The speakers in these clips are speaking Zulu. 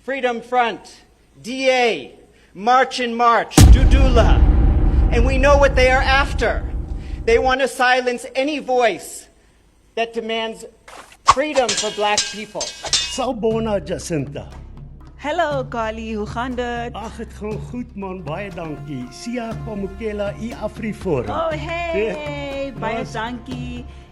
Freedom Front, DA, March and March, Dudula. And we know what they are after. They want to silence any voice that demands freedom for black people. Sawbona Jacinta. Hallo Kali, hoe gaan dit? Ag, dit gaan goed man, baie dankie. Sia Pamukela, u Afrifor. Oh hey, baie dankie.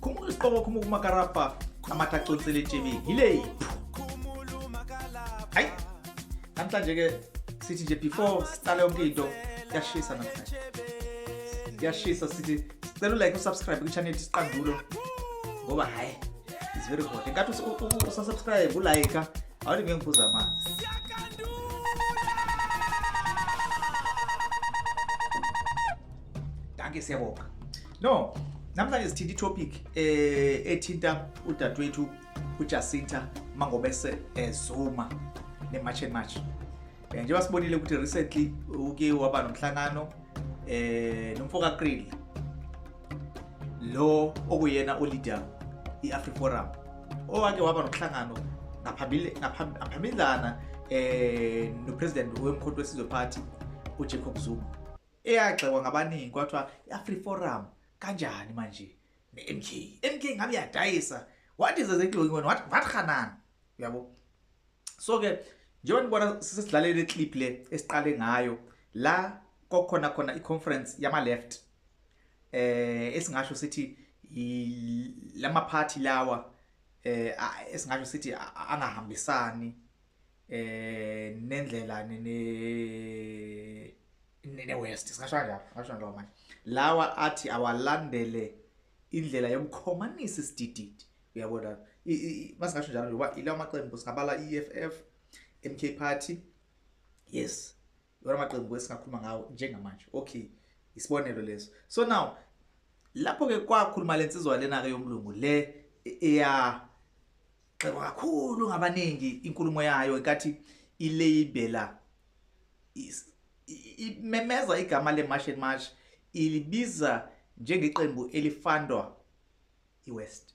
khumula isiqoma khumula kumakarabha amatha aconsele etshebeni yileyiphu hayi namhlanje-ke sithi nje before siqale yonke into kuyashisa namhlanje kuyashisa sithi sicela ulike usubscribe kwi-channel siqandulo ngoba hhayi is very hot enkathi usasubscribe ulayika awuthi ngeke ngiphuza amanzi danke siyabonga no namhlanje sithinta itopic eh ethinta udadewethu uJacinta Mangobese eZuma eh, neMarch and March eh, njengoba sibonile ukuthi recently uke waba nomhlangano eh nomfo kaKrill lo okuyena uleader iAfriforum owake waba nomhlangano ngaphambili ngaphambili eh nopresident wemkhonto wesizwe party uJacob Zuma eyagxekwa ngabaningi kwathiwa i-afri forum kanjani manje ne-mk mk ngabe yadayisa what is exactly going on what what khanan uyabo so ke njengoba nibona sisidlalele clip le esiqale ngayo la kokhona khona i-conference yama left eh esingasho sithi lama party lawa eh esingasho sithi angahambisani eh nendlela nene nene west singasho kanjalo ngasho njengoba manje lawa athi awalandele indlela yokukhomanisa isidididi uyabona masingasho njalo ngoba ilawa maqembu singabala i-EFF MK party yes lona maqembu esingakhuluma ngawo njengamanje okay isibonelo leso so now lapho ke kwakhuluma lensizwa lena ke yomlungu le eya xebo kakhulu ngabaningi inkulumo yayo inkathi ilabela imemeza igama le march and march ilibiza njengeqembu elifandwa iwest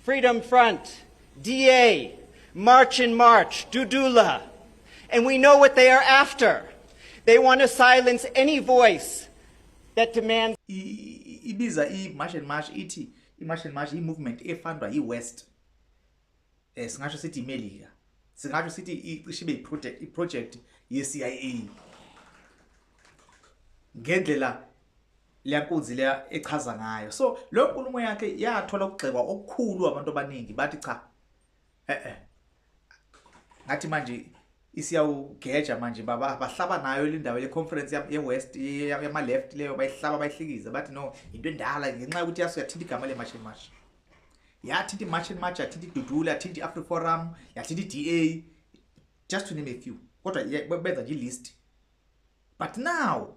Freedom Front, DA, March and March, Dudula. And we know what they are after. They want to silence any voice that demands ibiza i-march and march ithi i-march and march i-movement efundwa yi-west um singasho sithi imelika singasho sithi icishe ibe i-project ye-c i a ngendlela liyakunzi le echaza ngayo so lo nkulumo yakhe yathola ukugxekwa okukhulu abantu abaningi bathi cha eh eh ngathi manje isiyawugeja manje baba bahlaba nayo lindawo le conference ye west yama left leyo bayihlaba bayihlikiza bathi no into endala ngenxa ukuthi yaso yathinta igama le march and march yathinta march and march yathinta idudula yathinta afri forum yathinta DA just to name a few kodwa benza nje list but now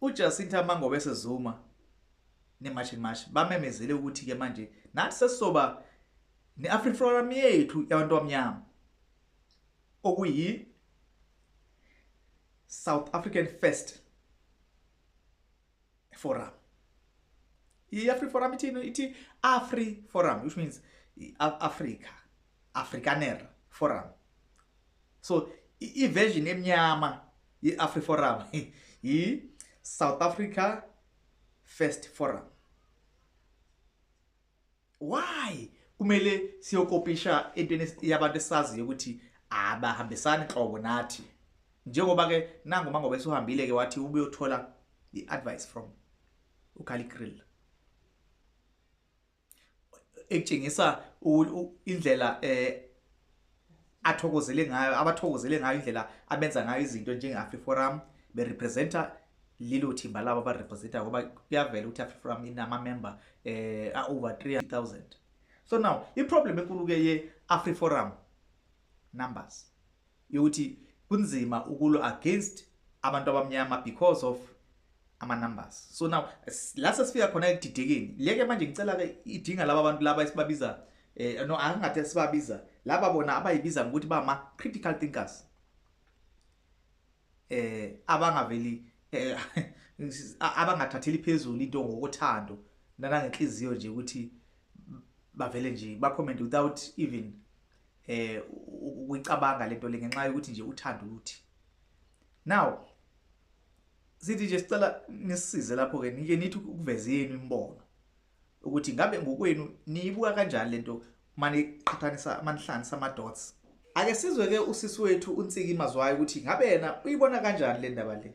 UJacinta Mangobese Zuma neMarch and March bamemezele ukuthi ke manje nathi sesizoba ne-African Forum yethu yabantu abamnyama okuyi South African First Forum. I-Afri Forum ithini? Ithi Afri Forum which means i-Africa, Afrikaner Forum. So i-version emnyama I-AfriForum yi-South Africa First Forum. Why kumele siyokopisha entweni yabantu esaziyo ukuthi abahambisani qobo nathi? Njengoba ke nangu mangobe suhambile ke wathi ubuyothola i-advice from uGaligril. ekutshengisa indlela eh athokozele ngayo abathokozele ngayo indlela abenza ngayo izinto njenge Afriforum be representa lelo thimba labo ba representa ngoba kuyavela ukuthi Afriforum inama member eh a over 3000 so now i problem enkulu ke ye Afriforum numbers Yokuthi kunzima ukulwa against abantu abamnyama because of ama numbers so now la sesifika khona ekudidekeni leke manje ngicela ke idinga laba bantu laba esibabiza eh no angathi sibabiza laba bona abayibiza ngokuthi bama critical thinkers eh abangaveli eh, abangathatheli phezulu into ngokuthando nanangenhliziyo nje ukuthi bavele nje ba comment without even eh ukuyicabanga lento le ngenxa yokuthi nje uthanda ukuthi now sithi nje sicela nisize lapho ke nike nithi ukuveza yenu imbono ukuthi ngabe ngokwenu niyibuka kanjani lento mani qhathanisa manihlanisa ama dots ake sizwe ke usisi wethu unsiki mazwayo ukuthi ngabe yena uyibona kanjani le ndaba le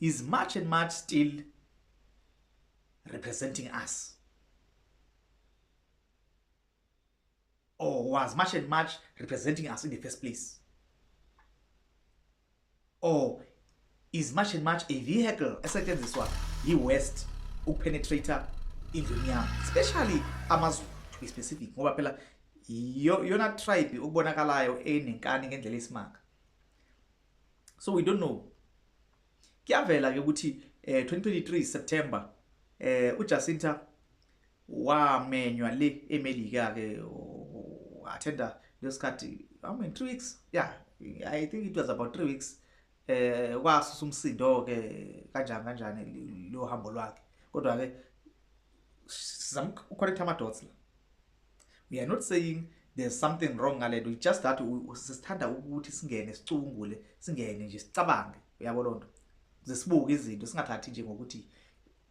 is much and much still representing us or was much and much representing us in the first place or is much and much a vehicle esetshenziswa yi-west ukupenetrate indlu emnyama especially amazulu to be specific ngoba phela yona tribe ukubonakalayo enenkani ngendlela esimanga so we don't know kuyavela ke ukuthi eh 2023 September eh uJacinta wamenywa le eMelika ke attenda lesikhathi how many 3 weeks yeah i think it was about 3 weeks eh kwasusa umsindo ke kanjani kanjani lo hambo lwakhe kodwa ke sizama uconnect ama dots la we are not saying there's something wrong ngalento it's just that sisithanda ukuthi singene sicungule singene nje sicabange uyabo lonto zisibuke izinto singathathi nje ngokuthi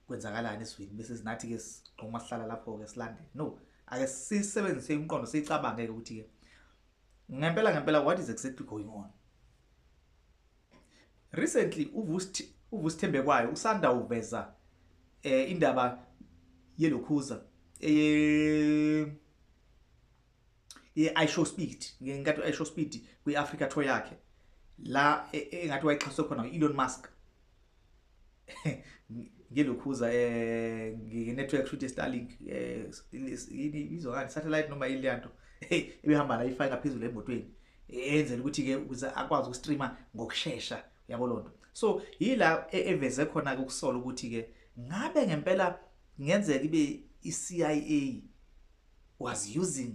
kwenzakalani eswini bese sinathi ke siqoma sihlala lapho ke silandele no ake sisebenzise umqondo sicabange ukuthi ke ngempela ngempela what is exactly going on Recently uVusithembekwayo usanda uveza eh indaba yelokhuza eye ye iShow Speed ngenkathi iShow Speed kwiAfrica tour yakhe la e, e, engathi wayixhaswe khona uElon Musk ngilokhuza eh nginetwork shoot Starlink eh yini izwa kanti satellite noma yini lento hey ibihamba la ifika phezulu emotweni enzela ukuthi ke ukuze akwazi ukustreama ngokusheshsha yabo lonto so yila e, eveze khona ke ukusola ukuthi ke ngabe ngempela ngenzeka ibe iCIA was using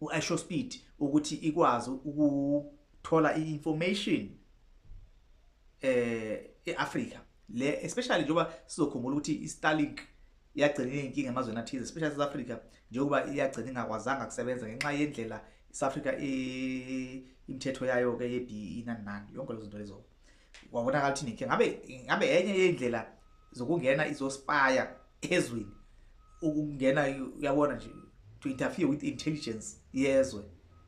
uIsho speed ukuthi ikwazi ukuthola iinformation eh eAfrica le especially njengoba sizokhumbula ukuthi iStarlink iyagcina inkinga emazweni athize especially South Africa njengoba iyagcina ingakwazanga kusebenza ngenxa yendlela South Africa imithetho yayo ke yeDE nani nani yonke lezo zinto lezo wabonakala ukuthi inkinga ngabe ngabe enye yendlela zokungena izospire ezweni ukungena uyabona nje to interfere with intelligence yezwe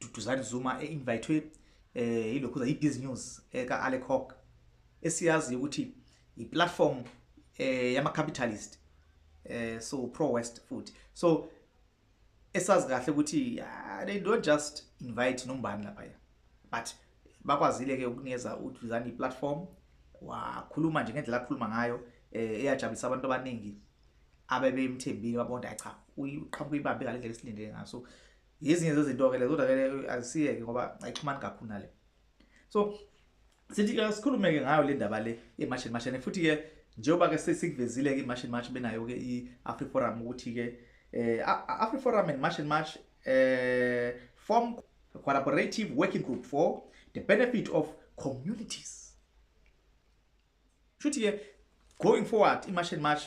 Duduzani Zuma e-invayithwe um eh, ilokhuza yi-biz news eka-alec hawk esiyaziyo ukuthi yi-platform um eh, yama-capitalist um so pro-west futhi so esazi kahle ukuthi ah, they don't just invite nombani laphaya but bakwazile-ke ukunikeza uduzani i-platform wakhuluma nje ngendlela akhuluma ngayo um eyajabulisa abantu abaningi abebemthembile babona cha uqhamuka ibambe ngale ndlela esilindele ngaso yezinye zezinto-ke le kodwa-ke azisiyeke ngoba ayixhumani kakhulu nale so sithi ke sikhulume-ke ngayo le ndaba le emashini mashini futhi-ke njengoba-ke sesikuvezile-ke imashini march benayo-ke i-afriforum ukuthi-ke um afriforum and march and march um form collaborative working group for the benefit of communities shuthi ke going forward imarch and march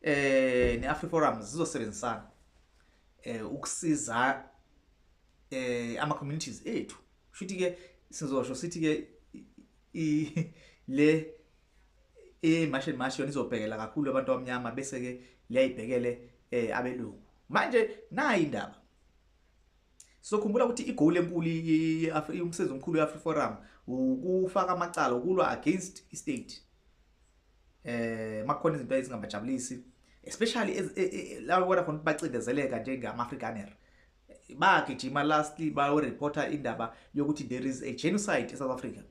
eh neAfri Forum zizosebenzisana eh ukusiza eh ama communities ethu shuthi ke sizosho sithi ke le imarch and march yona izobhekela kakhulu abantu abamnyama bese ke liyayibhekele eh abelungu manje nayi indaba Sizokhumbula ukuthi igoal enkulu umsebenzi omkhulu we-Afri Forum ukufaka amacala ukulwa against i-state eh makhona izinto ezingabajabulisi especially e, e, e, laba bona khona bacindezeleka njengama-afrikaner bagijima lastly bayoreporta indaba yokuthi there is a genocide e-south africa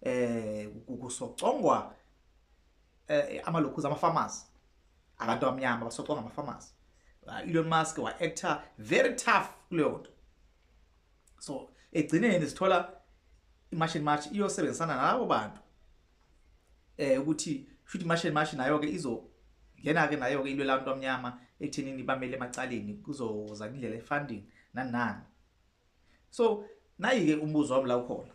eh kusocongwa eh amalokhuza ama farmers abantu abamnyama basocwa ngama farmers uh, Elon Musk wa actor very tough kuleyo nto so egcineni sithola imarch and march iyosebenzisana nalabo bantu eh ukuthi futhi imarch and march nayo ke izo ngena ke nayo ke into labantu abamnyama ekuthenini bamele emacaleni kuzoza indlela efunding nanani so nayi ke umbuzo wami la ukhona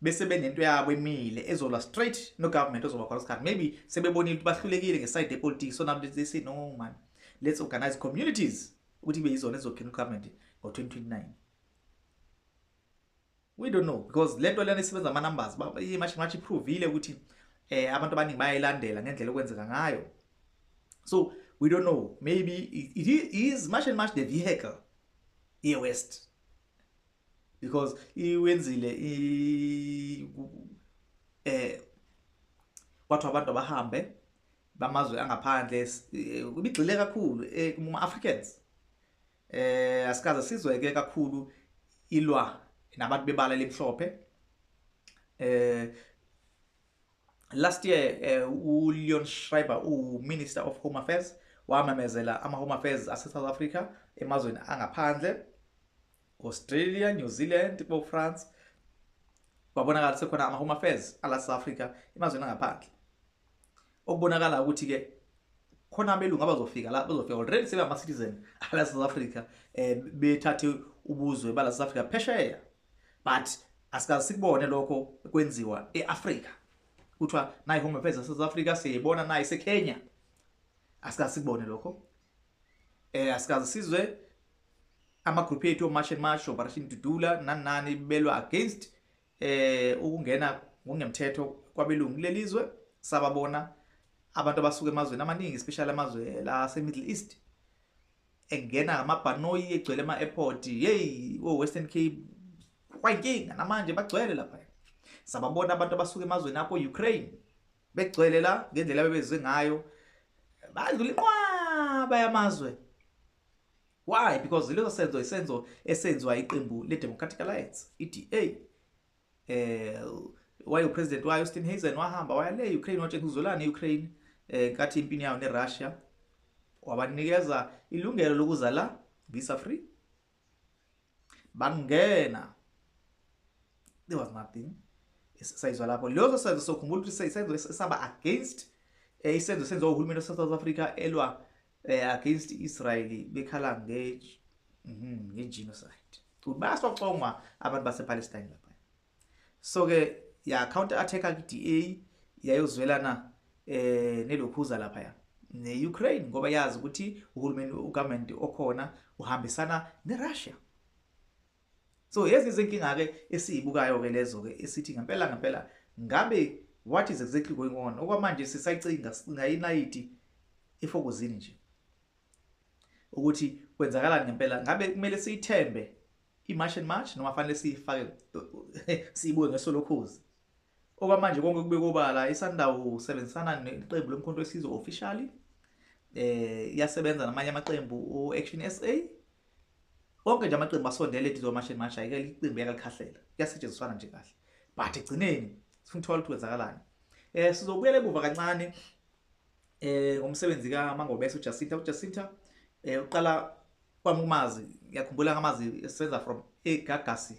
bese benento yabo emile ezolwa straight no government ozoba khona isikhathi maybe sebebonile ukuthi bahlulekile ngeside yepolitiki so nabo they say no man let's organize communities ukuthi ibe yizona ezokhina ugovernment ngo-2029 we don't know because le nto lena isebenza ama-numbers imashi iphrovile ukuthi eh abantu abaningi bayayilandela ngendlela okwenzeka ngayo so we don't know maybe it is much and much the vehicle ye-west because iwenzile i eh kwathiwa abantu abahambe bamazwe angaphandle eh, ibigxile kakhulu eh, kuma Africans eh asikaze sizweke kakhulu ilwa nabantu bebala lemhlophe eh Last year uh, uLeon Schreiber uMinister of Home Affairs wamemezela ama-Home Affairs ase-South Africa emazweni angaphandle Australia, New Zealand, bo France babonakala sekhona ama home affairs ala South Africa emazweni angaphandle okubonakala ukuthi ke khona abelungu abazofika la bazofika already sebe ama citizen ala South Africa eh bethathe ubuzwe bala South Africa phesheya but asikaze sikubone lokho kwenziwa eAfrika kuthiwa nayi home affairs yaSouth Africa siyibona nayi seKenya asikaze sikubone lokho eh asikaze sizwe ama group ethu march and march operation dudula nanani belwa against eh ukungena ngokungemthetho kwabelungu lelizwe sababona abantu abasuka emazweni amaningi especially amazwe la se Middle East engena ngamabhanoyi egcwele ema-airport yeyi o-western cape kwayinkinga namanje bagcwele lapha sababona abantu abasuke emazweni apho ukraine begcwele la ngendlela bebeze ngayo badlula inqwaba yamazwe why because leso senzo isenzo esenziwa iqembu le-democratic alliance i-da eh wayo president wayo Steenhuisen wahamba waya le Ukraine wathi ngizolana eUkraine eh nkathi impini yayo neRussia wabanikeza ilungelo lokuza la visa free bangena there was nothing sayizwa lapho lezo senzo sokhumbula ukuthi isenzo esaba against eh, isenzo senziwa uhulumeni waseSouth Africa elwa eh against Israel bekhala nge mhm nge genocide ubasocongwa abantu base Palestine lapha so ke ya counter attack ku DA yayozwelana eh nelokhuza lapha ya ne Ukraine ngoba yazi ukuthi uhulumeni ugovernment okhona uhambisana ne Russia So yezi izinkinga ke esizibukayo ke lezo ke esithi ngempela ngempela ngabe what is exactly going on okwamanje sisayicinga sicinga inayiti ifokuzini nje ukuthi kwenzakalani ngempela ngabe kumele siyithembe i-march and march noma fanele siyifake siyibuke ngesolokhozi Okwamanje konke kubekwa obala iSundowns usebenzisana neqembu lomkhonto wesizwe officially eh iyasebenza namanye amaqembu uAction SA onke nje amaqembu asondele eduze kwamashini manje ayikela iqembu yakalikhahlela kuyasetshenziswana nje kahle but egcineni sifuna ukuthola ukuthi kwenzakalani eh sizobuyela ebuva kancane eh ngomsebenzi ka Mangobese uJacinta uJacinta eh uqala kwami umazi ngiyakhumbula ngamazi esenza from eGagasi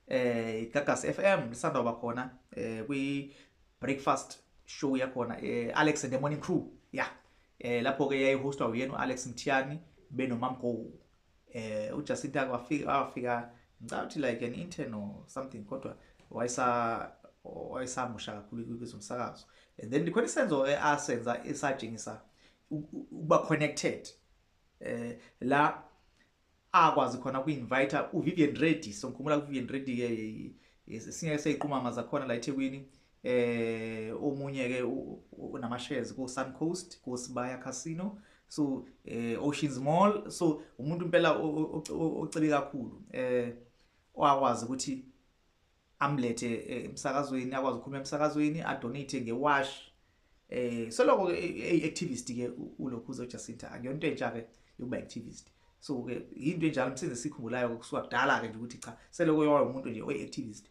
eh igagasi FM lisanda kuba khona eh kwi breakfast show yakhona eh Alex and the morning crew yeah eh lapho ke yayihostwa uyena uAlex Mthiyani benomamgo eh uJacinta kwafika afika ngicabanga like an intern or something kodwa wayesa wayesamusha kakhulu kwezomsakazo and then likhona isenzo asenza esajingisa ukuba connected eh la akwazi khona ku invite u Vivian Reddy so ngikhumula ku Vivian Reddy ke esinye seyiqumama zakhona la eThekwini eh omunye ke unama shares ku Sun Coast ku Sibaya Casino so eh Oceans Mall so umuntu impela ocebe kakhulu eh wakwazi ukuthi amlethe eh, emsakazweni akwazi ukukhuluma emsakazweni adonate ngewash eh soloko ke eh, activist ke ulokhuzo Jacinta akuyonto entsha ke yokuba activist so ke into enjalo msize sikhumbulayo kusuka kudala ke nje ukuthi cha seloko yowa umuntu nje oy activist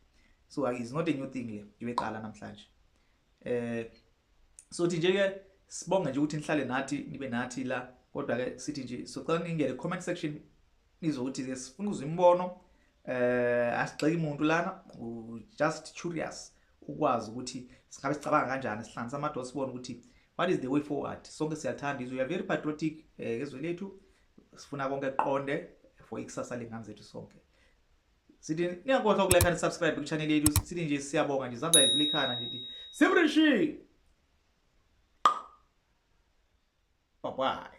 so is not a new thing le ngibeqala namhlanje eh so thi nje ke sibonge nje ukuthi nihlale nathi nibe nathi la kodwa ke sithi nje socela ningene comment section Nizothi ke sifuna uzwa imibono eh asigxeki umuntu lana just curious ukwazi ukuthi singabe sicabanga kanjani sihlanganisa amadoda sibone ukuthi what is the way forward sonke siyathanda izwe we are very patriotic eh, ngezwe eh, lethu sifuna konke kuqonde for ikusasa lengane zethu sonke sithi niyakhohlwa ukulike and subscribe ku channel yethu sithi nje siyabonga nje izandla yethu likhana ngithi simrishi bye bye